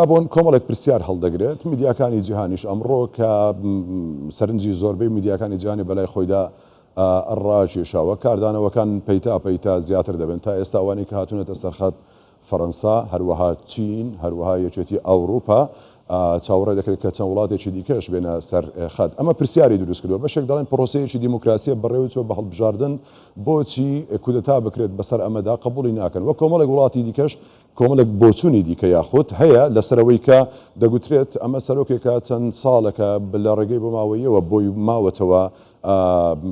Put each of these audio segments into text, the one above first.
ئەبۆن کۆمەڵێک پرسیار هەڵدەگرێت، میدیاکانی جیهانیش ئەمڕۆ کە سەرنجی زۆربەی میدیاکانی جیهانی بەلای خۆیدا ڕاکێشاوە، کاردانەوەکان پەیتا پەیتا زیاتر دەبن، تا ئێستا ئەوانەی کە هاتوونەتە سەرخەت فەرەنسا، هەروەها چین، هەروەها یەکێتی ئەوروپا، چاوەڕێ دەکرێت کە چەند وڵاتێکی دیکەش بێنە سەر خەت، ئەمە پرسیاری دروست کردووە، بەشێک دەڵێن پرۆسەیەکی دیموکراسییە بەڕێوەچووە بە هەڵبژاردن، بۆچی کودەتا بکرێت بەسەر ئەمەدا قبوڵی ناکەن و کۆمەڵێک وڵاتی دیکەش کۆمەڵێک بۆچوونی دیکە یاخود هەیە لەسەر ئەوەی کە دەگوترێت ئەمە سەرۆکێکە چەند ساڵێکە لە ڕێگەی بۆماوەییەوە بۆی ماوەتەوە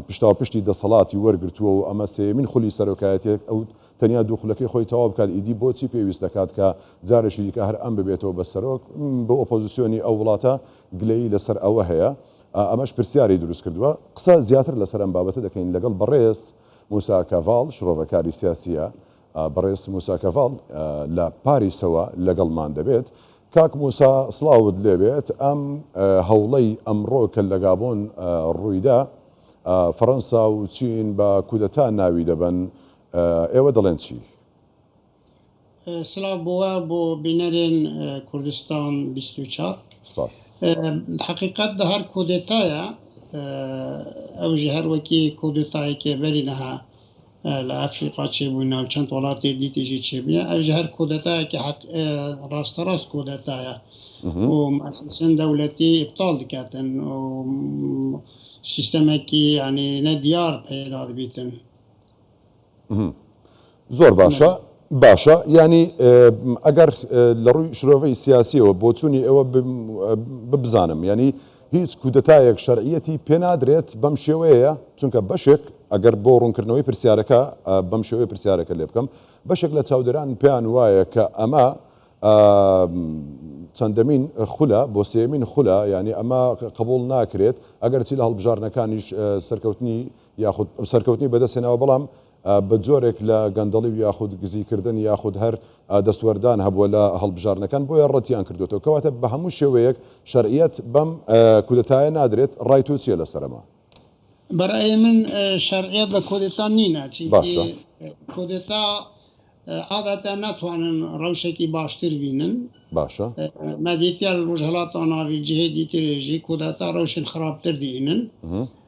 پشتاوپشتی دەسەڵاتی وەرگرتووە و ئەمە سێمین خولی سەرۆکایەتێک ئەو تەنیا دوو خولەکەی خۆی تەواو بکات ئیدی بۆچی پێویست دەکات کە جارێکی دیکە هەر ئەم ببێتەوە بە سەرۆک بۆ ئۆپۆزیسیۆنی ئەو وڵاتە گلەیی لەسەر ئەوە هەیە ئەمەش پرسیاری دروست کردووە قسە زیاتر لەسەر ئەم بابەتە دەکەین لەگەڵ بەڕێز موسا کاڤاڵ شڕۆڤەکاری سیاسیە بەڕێز موسا کەڤاڵ لە پاریسەوە لەگەڵمان دەبێت. کاک موسا سڵاوت لێبێت، ئەم هەوڵەی ئەمڕۆ کە لە گابۆن ڕوویدا، فەڕەنسا و چین بە کودەتا ناوی دەبەن، ئێوە دەڵێن چی؟ سڵاو بۆ بۆ بینەرێن کوردستان بیست و چوار. سپاس. حەقیقەت دە هەر کودەتایە ئەوژە هەر وەکی کودەتایەکێ بەرینەها لە ئەفریقا چێ بوو ناو چەند وڵاتێ دیتیژی چێ بوو ئەویش هەر کۆدەتایەکی حەق ڕاستە ڕاست کۆدەتایە و مەسەسن دەولەتی ئیبتاڵ دکاتن و سیستەمێکی یعنی نە دیار پەیدا دەبیتن زۆر باشە باشە ینی ئەگەر لە ڕووی شرۆڤەی سیاسیەوە بۆچوونی ئەوە ببزانم ینی هیچ کودەتایەک شەرعیەتی پێنادرێت بەم شێوەیە، چونکە بەشێک، ئەگەر بۆ ڕوونکردنەوەی پرسیارەکە بەم شێوەیە پرسیارەکە لێبکەم، بەشێک لە چاودێران پێیان وایە کە ئەمە چەندەمین خولە، بۆ سێیەمین خولە، یانی ئەمە قبوڵ ناکرێت، ئەگەرچی لە هەڵبژاردنەکانیش سەرکەوتنی یاخود سەرکەوتنی بەدەستهێناوە، بەڵام بە جۆرێک لە گەندەڵی و یاخود گزیکردن یاخود هەر دەستوەردان هەبووە لە هەڵبژاردنەکان بۆیە ڕەتیان کردووەتەوە کەواتە بە هەموو شێوەیەک شەرعیەت بەم کودەتایە نادرێت ڕای تۆ چیە لەسەر ئەمە؟ بەرای من شەرعیەت بە کۆدێتا نینا چینکی کۆدێتا عادەتە ناتوانن ڕەوشێکی باشتر بینن باشە مەدیتیا لە ڕژهڵاتاناوی جهێ دیترێژی کۆداتا ڕەوشن خراپتر دێنن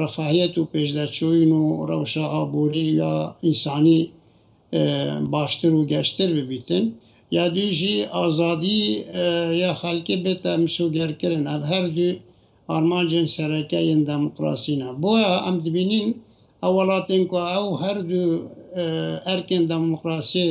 ڕەفاهیەت و پێشداچووین و ڕەوشە ئابووری یا ئینسانی باشتر و گەشتر ببیتن، یا دوی ژی ئازادی یا خەلکی بێتە مسۆگەرکرن، ئەڤ هەر دوی ئارمانجێن سەرەکە یێن دامۆکڕاسینە. بۆیە ئەم دبینین ئەو وەڵاتێن ک ئەو هەر دوو ئەرکێن دامۆکڕاسیێ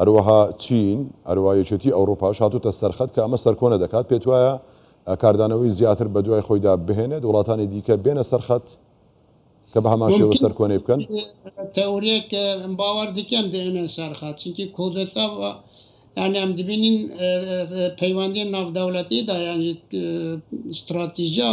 هەروەها چین، هەروەها یەکێتی ئەوڕوپاش هاتۆتە سەرخەت کە ئەمە سەرکۆنە دەکات، پێتوایە کاردانەوەی زیاتر بەدوای خۆیدا بهێنێت، وڵاتانی دیکە بێنە سەرخەت کە بەهەمان شێوە سەرکۆنەی بکەن؟ تەورێک باوەڕ دکەم دێنە سەرخەت، چونکی کۆدەتا یانی ئەم دبینین پەیوەندی ناودەولەتیدا یانی ستراتیژیا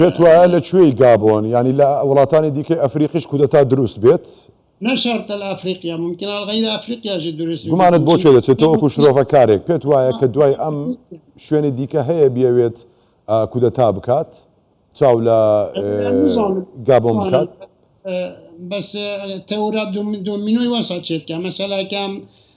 پێتوایە لە کوێی گابۆن یانی لە وڵاتانی دیکەی ئەفریقیش کودەتا دروست بێت؟ نە شەرتە لە ئەفریقیا ممکنە لە غەیری ئەفریقیاشی دروست بێت. گومانت بۆ کوێ دەچێت تۆ وەکو شرۆڤەکارێک پێت وایە کە دوای ئەم شوێنی دیکە هەیە بیەوێت کودەتا بکات چاو لە گابۆن بکات؟ بەس تەورا دۆمینۆی وەسا چێت کە مەسەلاکەم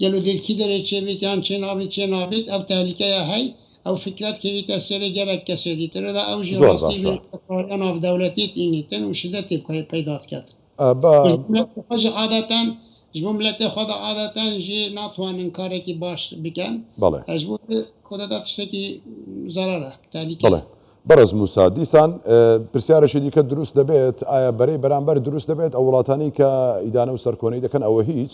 گەل و دەرکی دەرێ چێ بێت یان چێ نابێت چێ نابێت ئەو تەهلیکەیە هەی ئەو فیکرەت کەویتە سەرێ گەلەک کەسێ دیتر دا ئەو ژێ زۆر ڕاستی باشە. بێت کاریا ناڤ دەولەتێت ئینیتن و شدەتێ پەی پەیدا دکەت ئەبا. خۆژ عادەتەن ژ بۆ ملەتێ خۆ دا عادەتەن ژێ ناتوانن کارێکی باش بکەن بەڵێ. ژ بۆ کۆدەتا تشتێکی زەرەرە تەهلیکەیە. بەڵێ بەڕێز موسا دیسان پرسیارێکی دیکە دروست دەبێت ئایا بەرەی بەرامبەر دروست دەبێت ئەو وڵاتانەی کە ئیدانە و سەرکۆنەی دەکەن ئەوە هیچ؟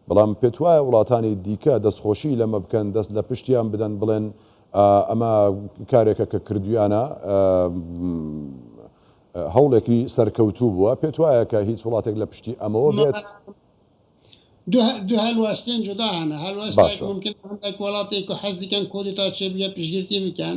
بەڵام پێتوایە وڵاتانی دیکە دەستخۆشی لەمە بکەن، دەست لە پشتیان بدەن، بڵێن ئەمە کارێکە کە کردوویانە، هەوڵێکی سەرکەوتوو بووە؟ پێتوایە کە هیچ وڵاتێک لە پشتی ئەمەوە بێت؟ دوو هەلوەستێن جودا هەنە، هەلوەستێک ممکنە هەندێک وڵاتێک کە حەز دکەن کۆدێتا چێ بگە پشتگیرتی بکەن،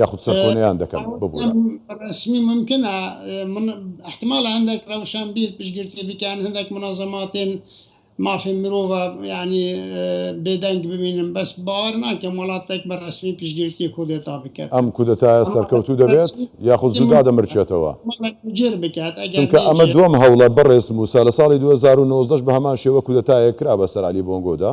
یاخود سەرکۆنەیان دەکەن ببورە. ڕەسمی ممکنە من احتمالە هەندێک ڕەوشان بیر پشگرتنی بکەن هەندێک منازەماتێن مافی مرۆڤە یعنی بێدەنگ ببینم بەس باوەر ناکەم وڵاتێک بە ڕەسمی پشگرتنی کودێتا بکەت ئەم کودەتایە سەرکەوتوو دەبێت یاخود زوو دادەمرچێتەوە جێر بکات چونکە ئەمە دووەم هەوڵە بەڕێز موسا لە ساڵی دوو هەزار و نۆزدە بە هەمان شێوە کودەتایەک کرا بەسەر عەلی بۆنگۆدا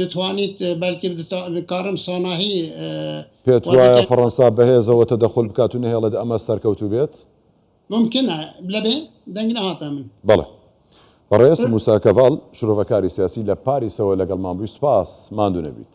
دەتوانیت بەلکم کارم ساناهی پێت وایە فەڕەنسا بەهێزەوە تەدەخول بکات و نەهێڵێت ئەمە سەرکەوتوو بێت؟ ممکنە لەبێ دەنگ نەهاتە من. بەڵێ. بەڕێز موسا کەڤاڵ، شرۆڤەکاری سیاسی لە پاریسەوە لەگەڵمان بووی، سوپاس. ماندوو نەبیت.